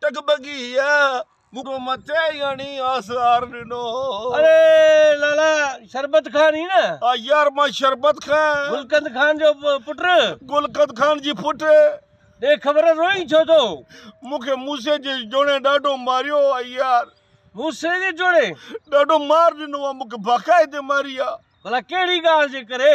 ٽڪ ٻگهيء مون کي مٿي ئي هڻي آسار ڏنو. اڙي لالا شربت خان هين نه؟ ها يار مان شربت خان. گلقند خان جو پٽ؟ گلقند خان جي پٽ. ڏي خبر روئين ڇو ٿو؟ مون کي موسي جي جوڻي ڏاڍو ماريو آ يار. موسي جي جوڻي؟ ڏاڍو مار ڏنو آ مون کي باقاعدي ماري آ. ڀلا ڪهڙي ڳالهه جي ڪري؟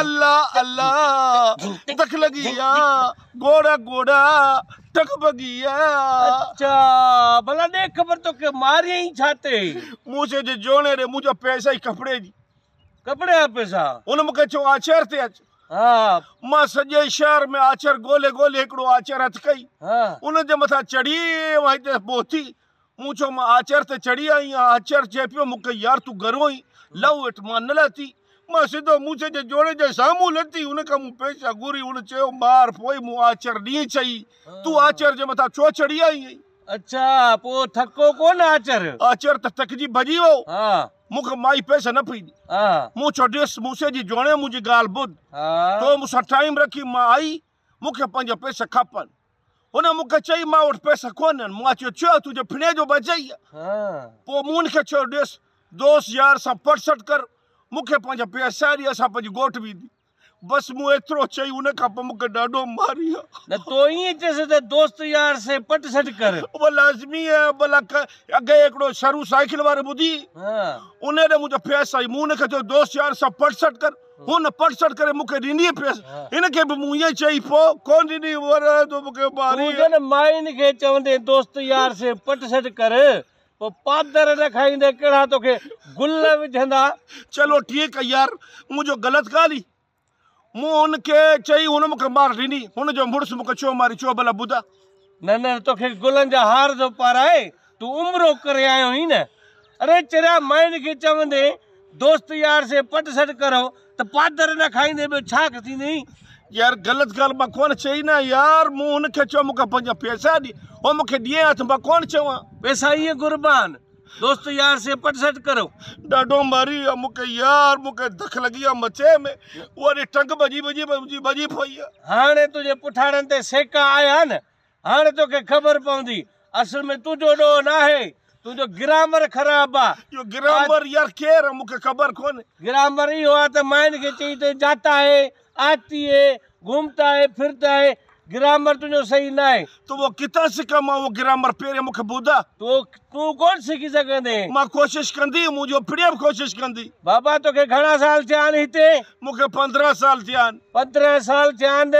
الله الله دک لڳي آ ڳوڙها ڳوڙها ٽڪ ڀڳي آ اچا ڀلا ڏي خبر توکي ماريائين ڇا تي مون چيو جي جوڻي ڏي منهنجا پئسا ئي ڪپڙي جي ڪپڙي جا پئسا ان مونکي چيو آچر تي اچ ها مان سڄي شهر ۾ آچر ڳولي ڳولي هڪڙو آچر هٿ ڪئي ان جي مٿان چڙهي مان هتي پهتي مون چيو، مان آچر تي چڙهي آئي آهيان. آچر چئي پيو، مون کي، يار تون گهرو آهين، لهو هيٺ. مان نه لهتي. مان سڌو موسي جي جوڙي جي سامهون لهتي. ان کان مون پيسا گهري. هن چيو، مار پوء مون آچر ڏينهن چئي، تون آچر جي مٿان ڇو چڙهي آئي آهين؟ اڇا، پوء ٿڪو ڪونه آچر؟ آچر ته ٿڪجي ڀڄي ويو. مون کي مائي پيسا نه پئي ڏي. مون چيو، ڏس موسي جي جوڻي منهنجي ڳالهه ٻڌ. تو مون سان ٽائيم رکي، مان آئي. مون کي پنهنجا پيسا کپن. هن مون کي چيو مان وٽ پيسا ڪونهن. مون چيو ڇو تنهنجي ڦڻي جو ٻڌيئي؟ پوء مون هن کي چيو ڏس دوست يار سان پڙسٽ ڪر مون کي پنهنجا پيسا ڏي اسان پنهنجي ڳوٺ ويندي بس مون ايترو چئي ان کان پوء مون کي ڏاڍو ماريو. نه تو ائين چيس ته دوست يار سين پٽ سٽ ڪر. اهو لازمي آهي ڀلا اڳئي هڪڙو شرو سائيڪل وارو ٻڌي ان ڏي منهنجا پيسا ڏي مون هن کي چيو دوست يار سان پٽ سٽ ڪر. هن پٽ سٽ ڪري مون کي ڏني پيس. هن کي به مون ائين چئي پوء ڪو نه ڏني هو رهي ٿو مون کي ماري. تون جن مائين کي چوندين دوست يار سي پٽ سٽ ڪر پوء پادر نه کائيندين ڪهڙا توکي گل وجهندا. چلو ٺيڪ آ يار منهنجو غلط ڳالهي مون هن کي چئي هن مون کي مار ڏني. هن جو مڙس مون کي چيو ماري چيو ڀلا ٻڌاء نه نه توکي گلن جا هار ٿو پارائي تون عمرو ڪري آيو هين نه اڙي چريا مائين کي چوندي دوست يار سي پٽ سٽ ڪرو ته پادر نه کائيندي ٻيو ڇا ٿيندئين. يار غلط ڳالهه مان ڪونه چئي نه يار مون هن کي چيو مون کي پنهنجا پئسا ڏي هو مون کي ڏيئي ها ته مان ڪونه چيو ها. پئسا ائين گهربا آهن. دوست يار سي پٽ سٽ ڪرو. ڏاڍو ماري آ مون کي يار. مون کي دک لڳي آ مچيء ۾. اها ڏي ٽنگ ڀڄي ڀڄي منهنجي ڀڄي پئي آ. هاڻي تنهنجي پٺاڻن تي سيڪا آيا نه. هاڻي توکي خبر پوندي. اصل ۾ تنهنجو ڏوهه ناهي. تنهنجو گرامر خراب آ. اهو گرامر يار ڪير آ مون کي خبر ڪونهي. گرامر اهو آ ته مائن کي چئي ته جاتا هي آتي هي، گهومتا هي، ڦرتا هي، گرامر تنهنجو صحيح ناهي. تو وہ ڪٿان سکان مان اهو گرامر پهرين مون کي ٻڌاء. تو تون ڪونه سکي سگهندين. مان ڪوشش ڪندي، منهنجو پڙيا به ڪوشش ڪندي. بابا توکي گهڻا سال ٿيا آهن هتي؟ مون کي پندرهن سال ٿيا آهن. پندرهن سال ٿيا آهن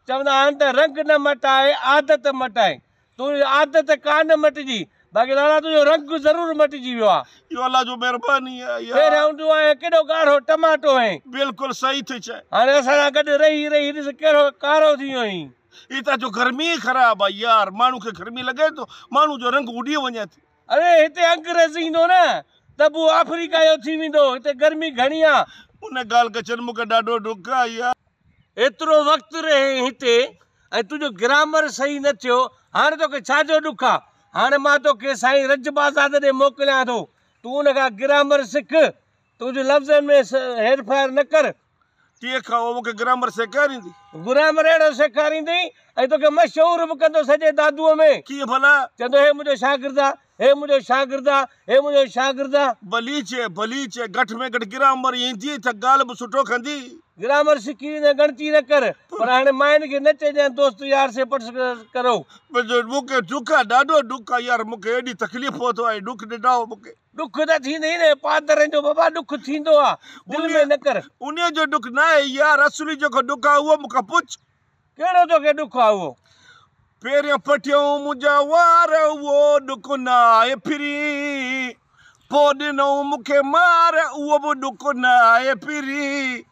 چوندا آهن ته رنگ نه مٽائي عادت مٽائي تنهنجي عادت ڪا نه مٽجي باقي لالا تنهنجو رنگ ضرور مٽجي ويو آ. اهو الله جو مهرباني آ يار. پهريائون تون آهين ڪيڏو ڳاڙهو ٽماٽو هئين. بلڪل صحيح ٿي چئين. هاڻي اسان سان گڏ رهي رهي ڏس ڪهڙو ڪارو ٿي ويو هين. هتان جو گرمي ئي خراب آ يار ماڻهو کي گرمي لڳي ٿو ماڻهو جو رنگ اڏي وڃي ٿي. اڙي هتي انگريز ايندو نه ته به آفريڪا جو ٿي ويندو. هتي گرمي گهڻي آ. ان ڳالهه ڪچن مون کي ڏاڍو ڏک آهي. ايترو وقت رهين هتي ۽ تنهنجو گرامر صحيح نه ٿيو. هاڻ توکي ڇا جو ڏک آ. هاڻ مان توکي سائين رجب آزاد ڏي موڪليان ٿو. تون ان کان گرامر سک. تنهنجي لفظن ۾ هير ڦير نه ڪر. تيء کان او مون کي گرامر سيکاريندي. گرامر اهڙو سيکاريندي ۽ توکي مشهور به ڪندو سڄي دادوء ۾. ڪيئن ڀلا؟ چوندو هي منهنجو شاگرد آ، هي منهنجو شاگرد آ، هي منهنجو شاگرد آ. بليچه، بليچه، گهٽ ۾ گهٽ گرامر اينديئي تھ ڳالهه به سٺو ڪندي. گرامر سکي ويندين، ڳڻتي نه ڪر، پر هاڻي ماين کي نه چئجانء دوست يار سي پٽس ڪرو. مون کي ڏک آ، ڏاڍو ڏک آ يار، مون کي ايڏي تڪليف پهتو آ، ڏک ڏنائو مون کي. ڏک ته ٿيندي ئي ناهي پادرين جو بابا ڏک ٿيندو آ دل ۾ نه ڪر. انهيء جو ڏک ناهي يا رسولي جيڪو ڏک آ اهو مون کان پڇ. ڪهڙو توکي ڏک آ اهو. پهريون پٺيون منهنجا وار اهو ڏک نه آهي پھرين پوء ڏنئون مون کي مار اهو به ڏک نه آهي پھرين.